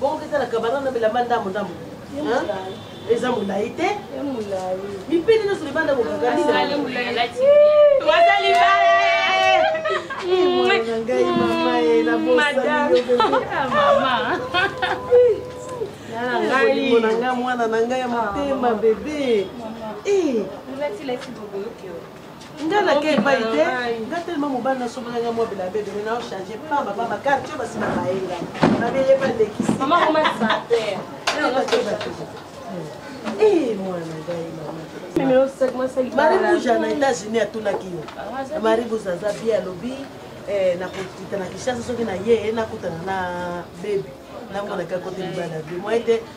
bongo ketala kabana na bilamba ndambo ndambo eza molai te mipende nyonso libanda kokakaliwazali na ngai mwana na ngai ya motema bebe nga nake epai te nga telema mobali nasombela nga mwa bilabe ebele nao change pamba pamba karte oyo basima baye nga babe ye balekisi mwana ngai maribuja na états-unis atunaki yo maribuja aza bie alobi eh, nakokita na kishasa soki na ye nakutana na bebi namonaka kote libala bie mwa ete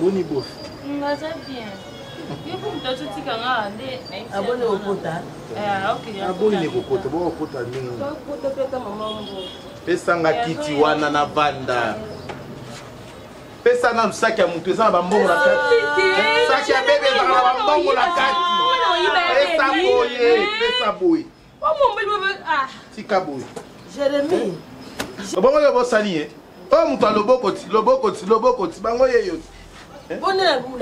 boni bof ngaza bien yoko moto azotika nga nde aboni kokota aboni kokota bokokota ndenge bakota mpe ata mama mbo pesanga kiti wana na banda pesa nanu saki ya motu eza na bambongo na kati saki ya bebe ezaka na bambongo na kati pesa boye pesa boye tika boye jeremie bongo yo bosali ye oyo moto ya loboko ti loboko ti loboko ti bango ye yo ti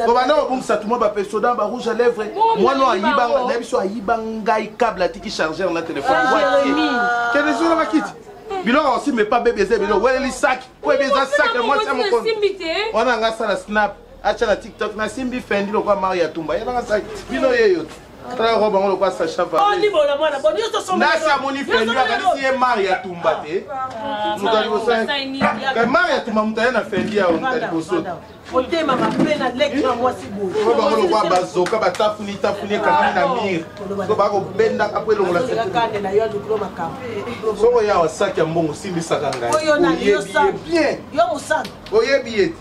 kobanda kobungisa tuma bapesoda ba rouge à lèvre mwana ayiba na biso ayiba ngai cable atiki chargeur na telefone kende zona bakiti biloko osimba epa bebe eza ebele oweleli saki po ebe eza saki ya mwasi ya mokono wana nga asala snap atya na tiktok nasimbi fendi lokola mario ya tumba ye nanga saki bino yeyo te tala robe yango lokola sacha valnasa amoni fendi akanisi ye mari ya tumba te ah, moto ya liboso mari ya tumba moto aye na fendi ya moto ya liboso otema mabe na leki na mwasi boye bango lokola bazoka batafuni tafuni ekangami na mire so bakobendaka mpo elongola soko yawa saki ya mbongo simbisaka ngai oyebi ye bien oyebi ye te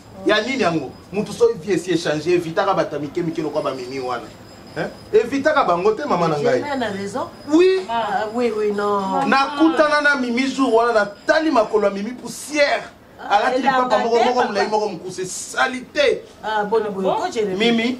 ya nini yango mutu soki vie esi echange evitaka bato ya mike mike lokola bamimi wana evitaka bango te mama na ngai oui ah, ah, nakutana na mimi jour wana natali makolo ya mimi poussière ah, alati lipapa moko moko molai moko mokuse salite mimi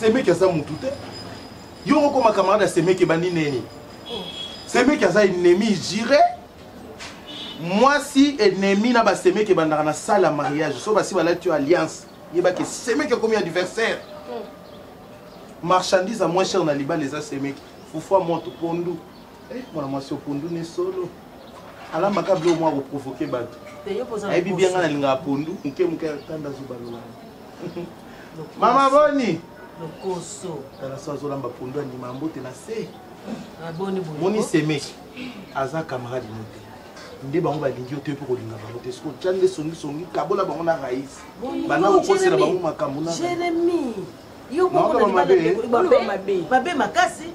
semeki aza mutu te yo moko ma camarade ya semeki ebandi neni semeki aza ennemi jire mwasi ennemi na basemeki ebandaka na salle ya mariage so basi balati yo alliance yebaki semeki ekomi adversaire marchandise ya moins cher na libala eza semeki fufua moto pondu eh, mwana mwasi opondu ne solo alamaka bilo mwa koprovoke bato ayebi bianga na lingaka pondu moke moke atanda zobalola mama boni lokoso tala so azolamba pondu andima ya mbote na se ah, moni semeki aza camarade no te nde bango balingi yo te mpo kolinga bango te soki otya nde songisongi kabola bango na rais banda kokosela bango makambo na mabe makasi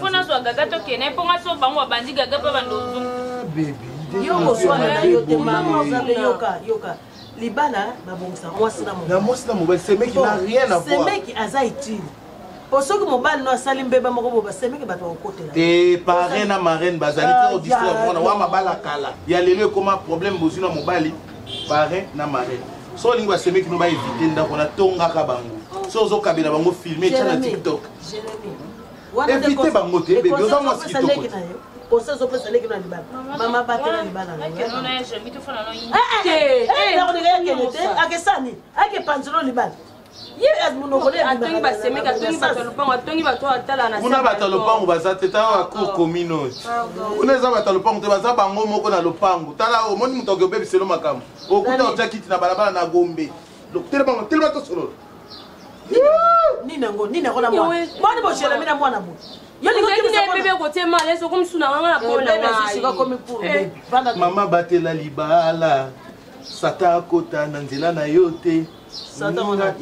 fo nazwa gaga tokende mpo nga so bango babandi gaga mpe bando yoka libala babongisa mwasi na mwasi na mobali semeki na rien à voir semeki aza utile po soki mobali no asali mbeba moko bo basemeke bato bakokotela te pare na marraine bazali te odistre ah, mwana wa mabala kala ya lelo ekoma problème bozwi na mobali pare na marraine so olingi basemeki no baevite ndako natongaka bango so ozokabela bango filme etya na tiktok evite bango te bebe oza mwasi kitoko kosa ezopesa leki na libala mama batela libala akesani ake panzelo libala kuna bato ya lopango baza te tala bacour commune oyo kuna eza bato ya lopango te baza bango moko na lopango tala omoni moto akobebiselo makambo okuta otya kiti na balabala na gombe telema tosolola nini yango nini yango na mwana boni bojelami na mwana boye mama batela libala sata akota na nzela na yo te nga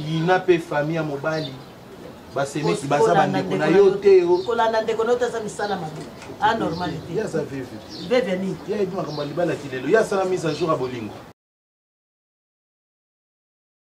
yina mpe famille ya mobali basemeki baza bandeko na yo te oh. kolanda ndeko na yo te aza misala mabe anormal ah, te aza veve veve nini ye ayebi makambo ya libala kilelo ye asala mise a jour ya bolingo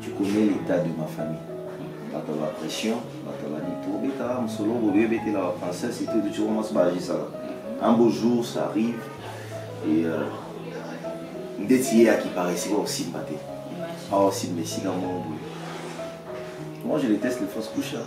Tu connais l'état de ma famille. Bato ya pression, bato ya banini. Tokobetaka mosolo bobe ebetela ba français, surtout du tshoko mwasi baagisaka. Un beau jour, ça arrive. Et euh, ndeti ye akiparesi kwa kosimba te. Awa osimba esika moko boye. Moi, je déteste les fausses couches. hein.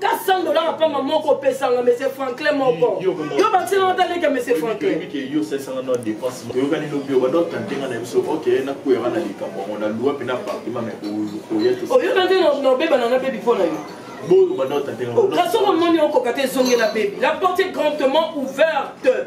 ka 100 dollars ya pamba moko opesanga monsieur franklin moko yo bakisela nga taleke monsieur franklin oyokani lobi obanda otante nga na biso ok nakweyaka na likambo yango na lua mpe na partima me oyoka nde na obebana na bebi mpo na yo kasi okomoni okoka te ezongela bebi la porte est grandement ouverte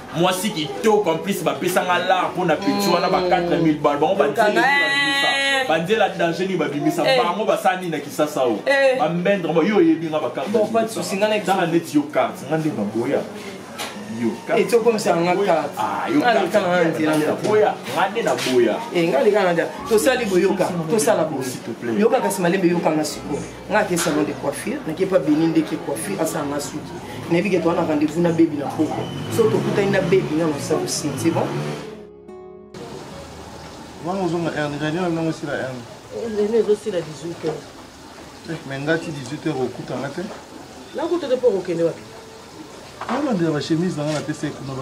mwasi kitoko en plus bapesanga lar mpo na peti wana ba 4000 bal bango banzela banzela danger nini babimisa eh. bango basala nini na kisasa oyo eh. bambendre yo oyebi nga bakartezala neti yo karte nga nde baboya tosali boyoka tosala boyoka kasi malembe yokanga sikoyo nga ake salon de coiffure nake pa beni ndeke coiffure asala nga suki nayebi ke toa na rendez-vous na bebi na poko so tokutani na bebi nga mosala osini c'est bon wana ozonga erne radio na binango esila erne rene ezosila 18 heures mais nga ti 18 heures okuta nga te nakuta te mpo okokende wapi nalandela bachemise na nga napesa ye kuna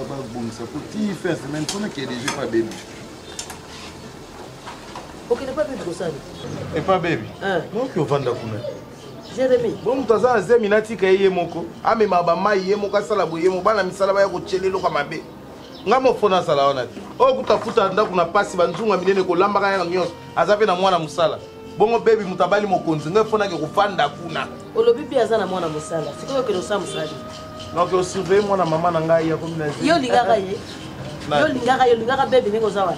babongisa po ti fin ya semaine mpo nakee deja epa bebi okende epa bebi kosali epa bebi noki ovanda kuna jeremi bo moto aza na zemi natika ye ye moko amema bamai ye moko asala boye mo bana misala baya kotyela eloko mabe ngai mofo nazala wana te oyo kutafuta ndako na mpasi banzunga minene kolambaka yaka nyonso aza mpe na mwana mosala bongo bebi moto abali mokonzi ngai mpo nake kofanda kuna olobi mpe aza na mwana mosala sikoyo okende osala mosali donc osurveille mwana mama na ngai yakomi na yo olingaka ye yo olingaka ye olingaka bebi ndenge oza wana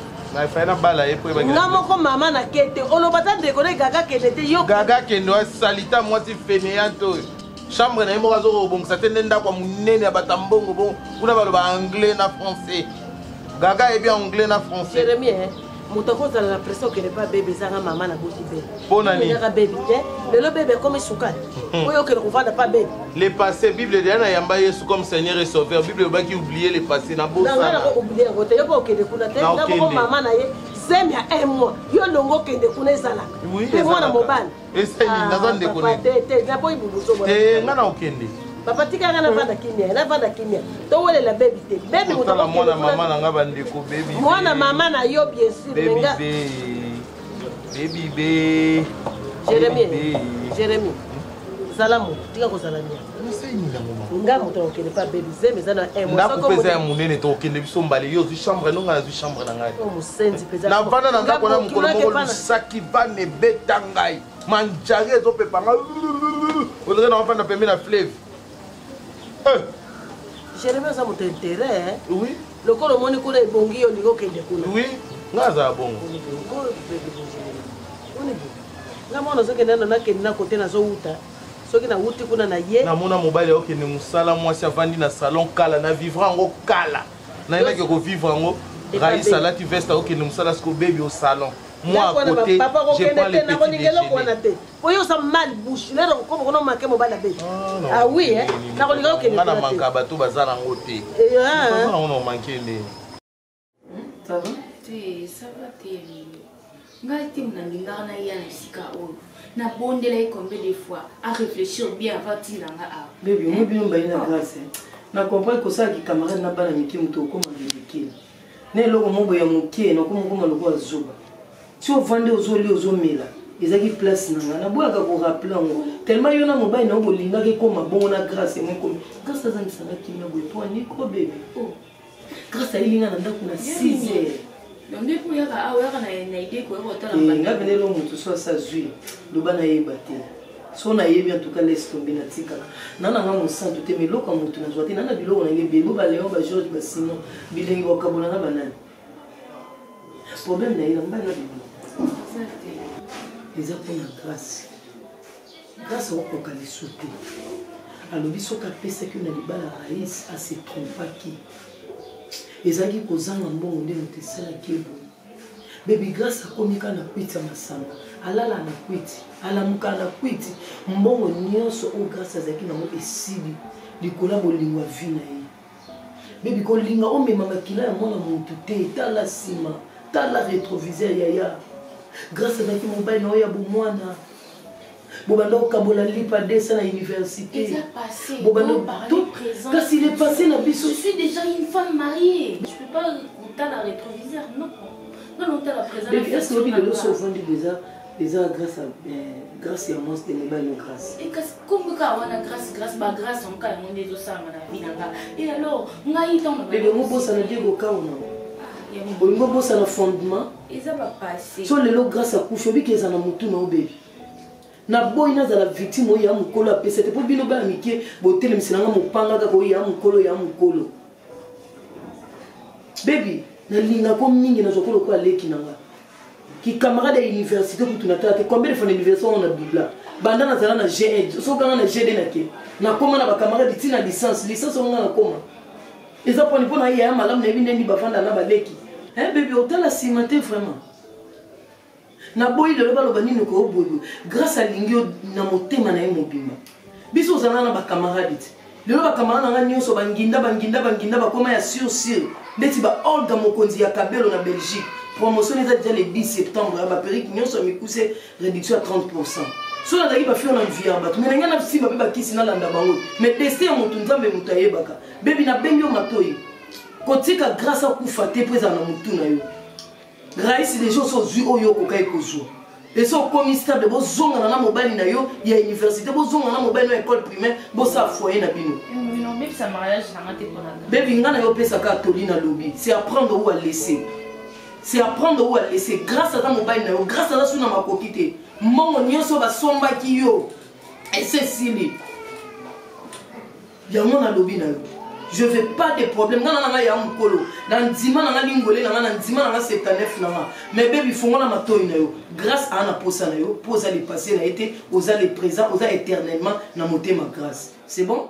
nga moko mama na kete oloba ta ndeko na gaga kende te yo gaga kende asalita mwasi fainéante oyo chambre na ye moko azoka kobongisa te nde ndako ya monene ya bato ya mbongo bongo kuna baloba anglais na français gaga ayebi anglais na français moto akozala na pression okende mpa bebe ezanga mama na boti bebe mpona nini kaka bebe te lelo bebe akomi sukali hmm. oyo okende kovanda mpa bebe le passé bible deya nayamba yesu comme seigneur et sauveur bible elobaki oublie le passé na bosana nanga oublie yango te yo mpo okende kuna te na moko mama na ye zemi ya un mois yo longo okende kuna ezalaka mpe mwana mobali eseni ah, naza ndeko eh, nga na okende papa tika nga navanda kimia navanda kimia towelela bebi te bebi mwana mama na nga bandeko bebi mwana mama na yo bien sûr menga bebi be jérémie jérémie zala moto tika kozala mia nga moto akokende mpe abebi zemi eza na ndako mpeza ya monene tokokende biso mbale yo ozwi chambre yango ngai nazwi chambre na ngai oh, na vanda na ndako na mokolo moko lusaki vana ebeta ngai manjari ezopepa ngai ondire na wafanda pembe na fleve eh. jeremi aza moto interet oui lokola omoni kuna ebongi yo olingi okende kuna oui ngai azala bongo nga mwana ozokende nano nakende na kote nazowuta soki nawuti kuna na ye namona mobali akokende mosala mwasi avandi na salon kala na vivre yango kala nayebaki kovivre yango rais alati veste akokende mosala siko bebi au salon moi à côté je prends les petits déjeuner po yo oza mal bouche lero okoma kona omake mobali abe ah, ah oui nakolingaki okende nga na manka bato baza nango te eh, ah. baza nango na omanke ndenge Ça va? Te, ça va te. Ngai te nalingaka na ya na esika oyo. Nabondela ye combien de fois a réfléchir bien avant tinda nga awa. Baby, oyebi bino mbaye na grâce. Na comprendre kosala ki camarade na bana mike moto okoma ridicule. Na eloko moko ya moke na okoma okoma lokola zoba. Si ovandi ozoli ozomela ezalaki place na ngai naboyaka korapele yango tellement yo na mobali na yo bolingaki ekoma bongo na grâce yango ekomi grâce azangisanga kimia boye mpo anikobe oh. Grace ayeli nga na ndako na 6 heures. Donc nde mpo oyaka awa oyaka na idee koya kotala eh, mbanda. Nga pene elo moto so asa zwi loba nayeba te. so nayebi en tout cas laisse tombe natikaka na nanga mosantu te mais eloko ya motu nazwa te na na biloko na nge bebo baleon bageorge basimon bilengi bakabola na banani problème na ye na mbali na bebo eza mpona grâce Grace akokoka lisu te. Alobi soki apesaki yo na libala Raïs a se trompaki. Ezalaki kozanga mbongo nde moto esalaki ye boye. Baby Grace akomi kaka na kwiti ya masanga. Alala na kwiti, alamuka na kwiti. Mbongo nyonso oyo Grace azalaki nango esili likolo ya bolingo ya vie na ye. bebi kolinga omema makila ya mwana motu te tala nsima tala retroviseur yaya grâce azalaki mobali na oyo ya bomwana bobanda kokabola lipa desa na université kasi le passé na biso je suis déjà une femme mariée je peux pas kotala rétroviseur non non non tala présent est ce que obi lelo so ovandi déjà eza grâce grâce ya mwasi te mobali yo grâce eh, kasi kombo kaka wana grâce grâce ba grâce yango kaka yango nde ezosalama na vie na nga e eh, alors ngai ntango bebe mobosana die kokaona ah, olingi obosana fondement eza bapase so lelo grâce akufi obiki eza na motu na obebi naboyi nazala victime oyo ya mokolo apesa te mpo bino bana mike botelemisi na nga mopanga kaka oyo ya mokolo ya mokolo bebi nalingaka yo mingi nazwaka lokola leki na nga kikamarade ya université kutu natala te combien de fois na université yango na bibla banda nazala na g1 soki kanga na g2 nake nakoma na bakamarade ti na licence licence yango nga nakoma eza poni mpo na yaya malamu nayebi nde nini bafanda na baleki eh, bebi otala nsima te vraiment naboyi lelo baloba nini okoyo boyeboye grâce alingi yo na motema na ye mobimba biso ozala na bacamarade te lelo bacamarade na ngai nyonso banginda banginda banginda bakoma ya sur sur ndeti ba olga mokonzi ya kabelo na belgique promotion eza deja le 10 septembre ya baperike nyonso ya mikuse réduction ya 30 pourcent soki nazalaki bafio na mvi ya bato me nangai nasimba mpe bakisi nalanda bango me destin ya motu nzambe moto ayebaka bebi nabengi yo matoi kotika grâce akufa te mpo ezala na motu na yo grace deja osi ozwi oyo okokaki kozwa esi okomi stable bozongana na mobali na yo ya université bozongana na mobali na école primaire bosala foye na bino bebi ngai na yo opesaka atoli na lobi c'est apprendre ou à laisser c'est apprendre ou à laisser grâce aza mobali na yo grâce aza suna makoki te mbongo nyonso basombaki yo ese esili yango nalobi na yo je veux pas de problème nga nanga ya mokolo na ndima nanga lingole nanga na ndima nanga 79 nanga mais bebi fongola matoi na yo grâce aa na posa na yo mpo oza le passé na ye te oza le présent oza éternellement na motema grâce c'est bon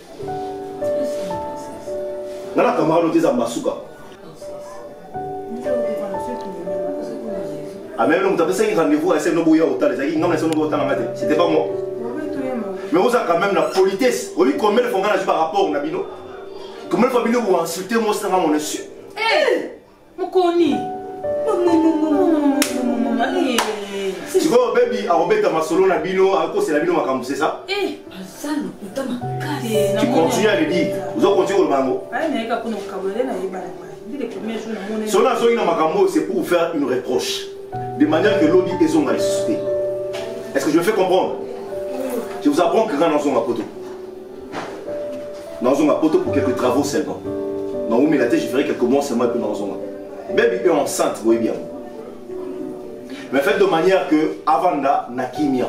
nga na camarade oyo te eza mbasuka ameme moto apesaki rendez-vous asene oboya otala ezalaki ngai nasene oboya otala nga te c'était pas moi mais oza quand même na politesse oyebi combien de fois nga nazwi barapport na bino combien de fois bino oinsulte moi osanga mon insu mokoni sikoyo bebi akobeta masolo na bino akosela bino makambo sesa aza lokuta makasi tu continue à le dire ozo continue koloba yango nayeka kuna kokabola na yeba na mai solo azongi na makambo oyo c'est pour faire une reproche de manière que lobi ezonga lisusu te est ce que je me fais comprendre je vous apprends que nga nazonga poto nazonga poto pour quelques travaux seulement naumela te je ferai quelques mois seulement epe nazonga baby e enceinte boyebi yango mais faites de manière que avanda na kimia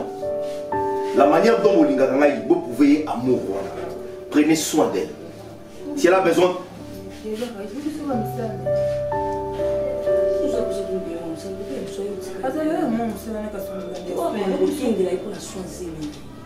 la manière dont bolingaka ngai boprouve ye amour wana prenez soin d'elle si elle a besoin azali yo mwa mosala na kasi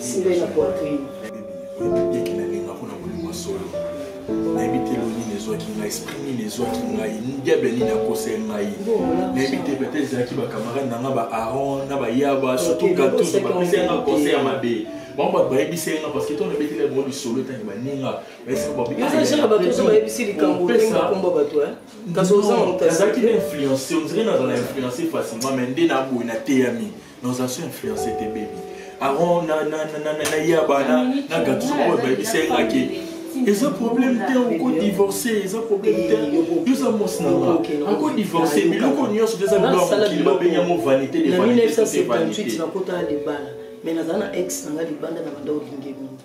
simbe na poitrine yeke na linga mpona kolinga solo nayebi te lo nini ezwaki ngai esprit nini ezwaki ngai diable nini akose ngai nayebi te peut-être ezalaki bacamarade na nga ba aron na bayaba surtout gatus bapesa yanga conseil ya mabe bango bato bayebisi ye nga parceke ntango nabeteli bango lisolo etangi baninga nazalaki na influence ondire nazala influence facilement mai nde naboye nateyami Nos anciens influencés te baby. Aaron na na na na na yaba na na gatuzo oyo bayebisa ye nga ke eza problème te oko divorce eza problème te yoza mwasi na nga ako divorce biloko nyonso te eza biloko ya mokili babengi yango vanité de vanité na 1978 nakotala libala mais naza na ex na nga libanda na banda olingi mingi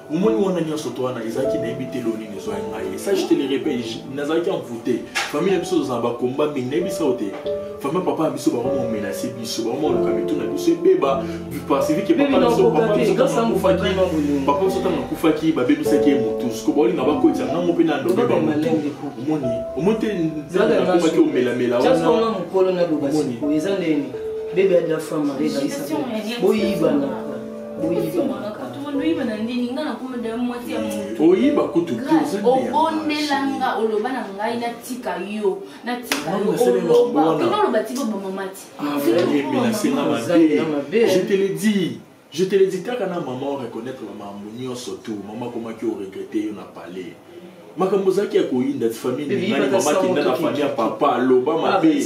omoni wana nyonso to wana ezalaki nayebi te lelo nini ezwaki ngai ça je te le répète nazalaki envoute famille na biso tozala bakomba mingi nayebi sao te famille papa na biso bakoma omenase biso bakoma oluka mitu na biso ebeba pacifique papa na biso papa biso ntango akufaki babebisaki ye motu siko baolinga na bakotisa ngango mpe na ndobe bamotu omoni omoni te nzambe nakomaki omelamela wana omoni bebe ya dafamare boyibana oyiba kutu obondelanga oloba na ngai natika yo natika yooloba tika obamamati je te le dis je te le dis kaka na mama oreconnaitre bamambo nyonso tu mama akomaki oregrete yo na palais makambo ozalaki ya koyinda ti famille ningani mama akenda na famille ya papa aloba mabe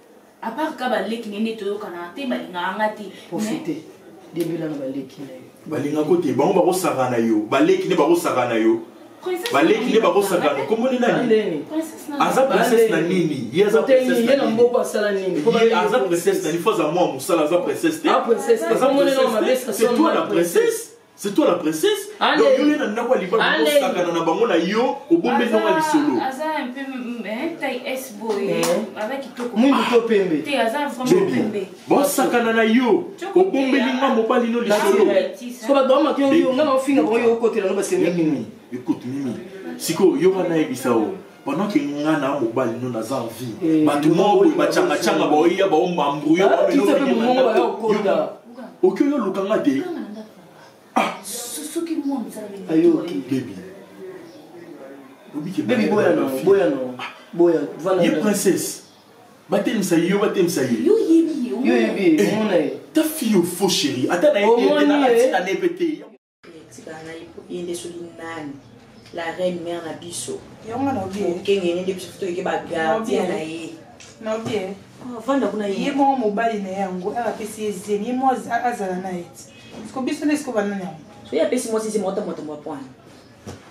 à part ka baleki ne nde toyokanaka te balingaka nga te profite debela na baleki na yo balinga ko te bango bakosaka na yo baleki nde bakosaka na yo baleki nde bakosaka na komoni nani aza princesse na nini ye aza princesse na nini aza princesse na nini fo aza mwa mosala aza princesse te ah, aza princesse te c'est toi la princesse C'est toi la princesse Donc yo yena ndako ya libala osakana na bango na yo obombe ndako ya lisolo Aza un peu mm, hein, taille S boy eh. Aza kitoko Mungu to pembe Te aza vraiment pembe Bon sakana na yo obombeli nga mobali no lisolo Sko ba doma kyo yo nga na ofinga ko yo kotela no ba sembe Écoute Mimi siko yo kana yebisa o pendant que nga na mobali no naza en vie eh, bato moko boye bacangacanga baoya baombambrouye oki oyo oluka nga te ye princesse batelemisa ye yo batelemisa ye eh, ta fille ofo chéri ata nayebi ete na atina ne mpe te tika ngai po ye nde soki nani la reine mère na biso okengene nde biso toyeke bagardien na ye nabie ah, vanda kuna ye moko mobali na ye yango apesi ye zemi ye mo azala na ye ti siko biso nde siko banani yango soki apesi mwasi zemi otamotambo apwana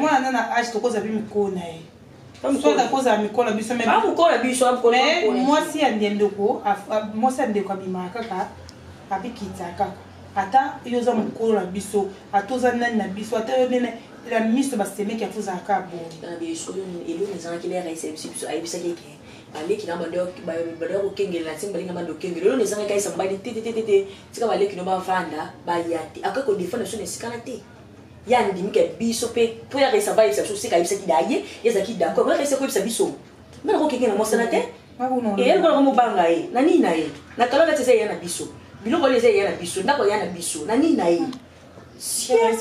mwana na age tokozala mpe mikolo na ye akozala mikolo biso mwasi ya ndendoko mwasi ya ndeko abimaka kaka abikita kaka ata yo oza mokolo na biso ata oza nani na biso ata yo nene la miso basemeki ya tozala kaka boyeeloko ezalaki lera esebisi biso ayebisaki eke baleki na bado ya kokengela ntina balinga bando okengela eloko ezangaki ayesa mobali te te te te tika baleki no bavanda baya te akoki kodefendre biso na esikana te ye andimi ke biso mpe mpo ya resa bayebisa biso seka ayebisaki da ye ye ezalaki d'accord oya resa koyebisa biso nga nako kenge na mosana te eye lokola ngo mobanga ye na nini na ye na kalona ti eza eya na biso biloko wana eza eya na biso ndako eya na biso na nini na ye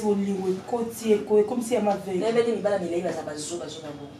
bolingo ekoti ekomi se ya mavei nayebaki mibala milai baza bazobazoba bongo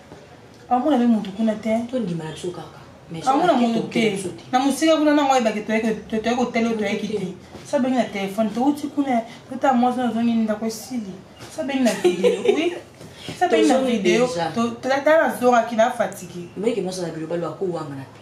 amona mpe motu kuna te tondima ya biso kaka amona motu te na mosika kuna nango ayebake toyei kotala oyo toyeki te sabengi na telefone touti kuna totala mwasi na ozongi ndako esili sabengi na video oui sabengi na video tala nazongaki na fatiki meke mwasi na bilobalo akowangana te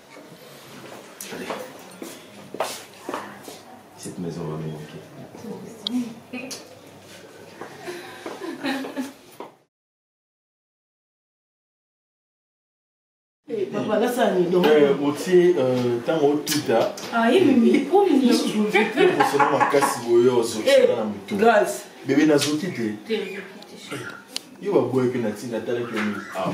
Cette maison va me manquer. papa nasala nini otie ntango otuta kosona makasi boye ozokisaka na motu bebe nazoki te yo baboyaki na ntina atalaki yo mingi awa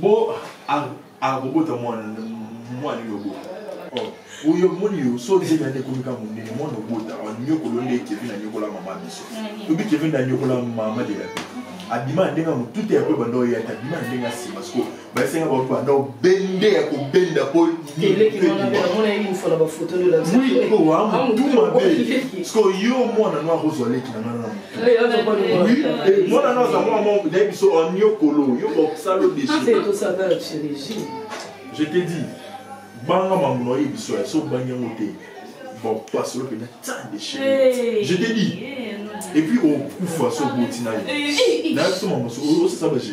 Bo akobota mwana mwana yo bota. Oh, oyo moni yo so nzela nde ekomi kaka monene mwana obota anyokolo nde kevin anyokola mama biso obi kevin nde anyokola mama de la vie abima na ndenge ya motute ya koyeba ndao yaki abima na ndenge ya nsima siko basenga bango bandao bende ya kobenda po oamutuma be siko yo mwana nwa akozwa leki na ngai na mwana na aza mwana moko nayebi biso aniokolo yo bakosala odesi je te dis banga mamuna oyebi biso ya so bangi yango te bapasolo mpenza tsa deshe je te dis et puis okufa so oboti nayo nayebi so mamoso osasa baje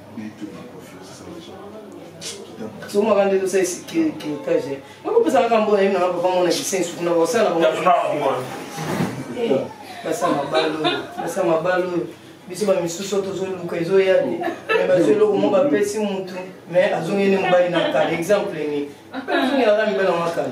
somaka nde tosala esikirikiritage nakopesa kaka mbona yebi nanga papa mona bisengi suku na basala basa mabalo basa mabalo oyo biso bamisusu oyo tozoluka ezoya te me bazwi eloko mo bapesi mutu me azongi nde mobali na kala exemple nini azongi na kala mibali yango akala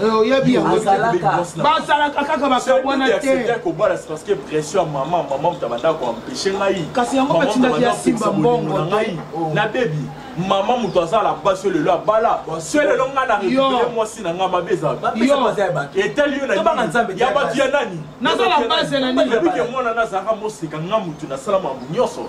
Eh, oyebi basalaka kaka bakabwana tekasi yango batindaki ya simba mbongo na ngai oh. na bebi mama moto aza na basi oyo lelo abala so lelo ngai na rekupere mwasi na ngai mabe ezaetali yo ya bato ya nani nazala base na nini mwana nazalaka moseka ngai moto nasala makambo nyonso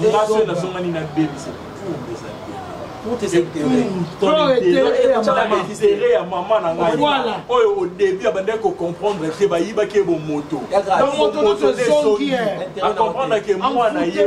nga soki nazongani na bebisa pumbu eza intere ya mama na ngai oyo au début abandaki kocomprendre te bayibaki ye bomoto acomprendre ke mwana ye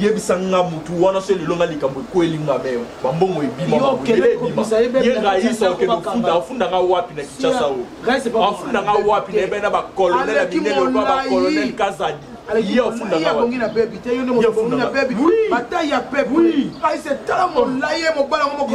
yebisa nga mutu wana so lelo nga likambo ekweli nga meyo bambongo ebimamaye rais okende ofunda afunda nga wapi na kinshasa o afunda nga wapi na ebena bacolonel ya minene oba bacolonel kazadi ye ofunda nga wapi na bebi te yo nde moto na bebi bataille ya pepe rais etala molaye mobala ngo moko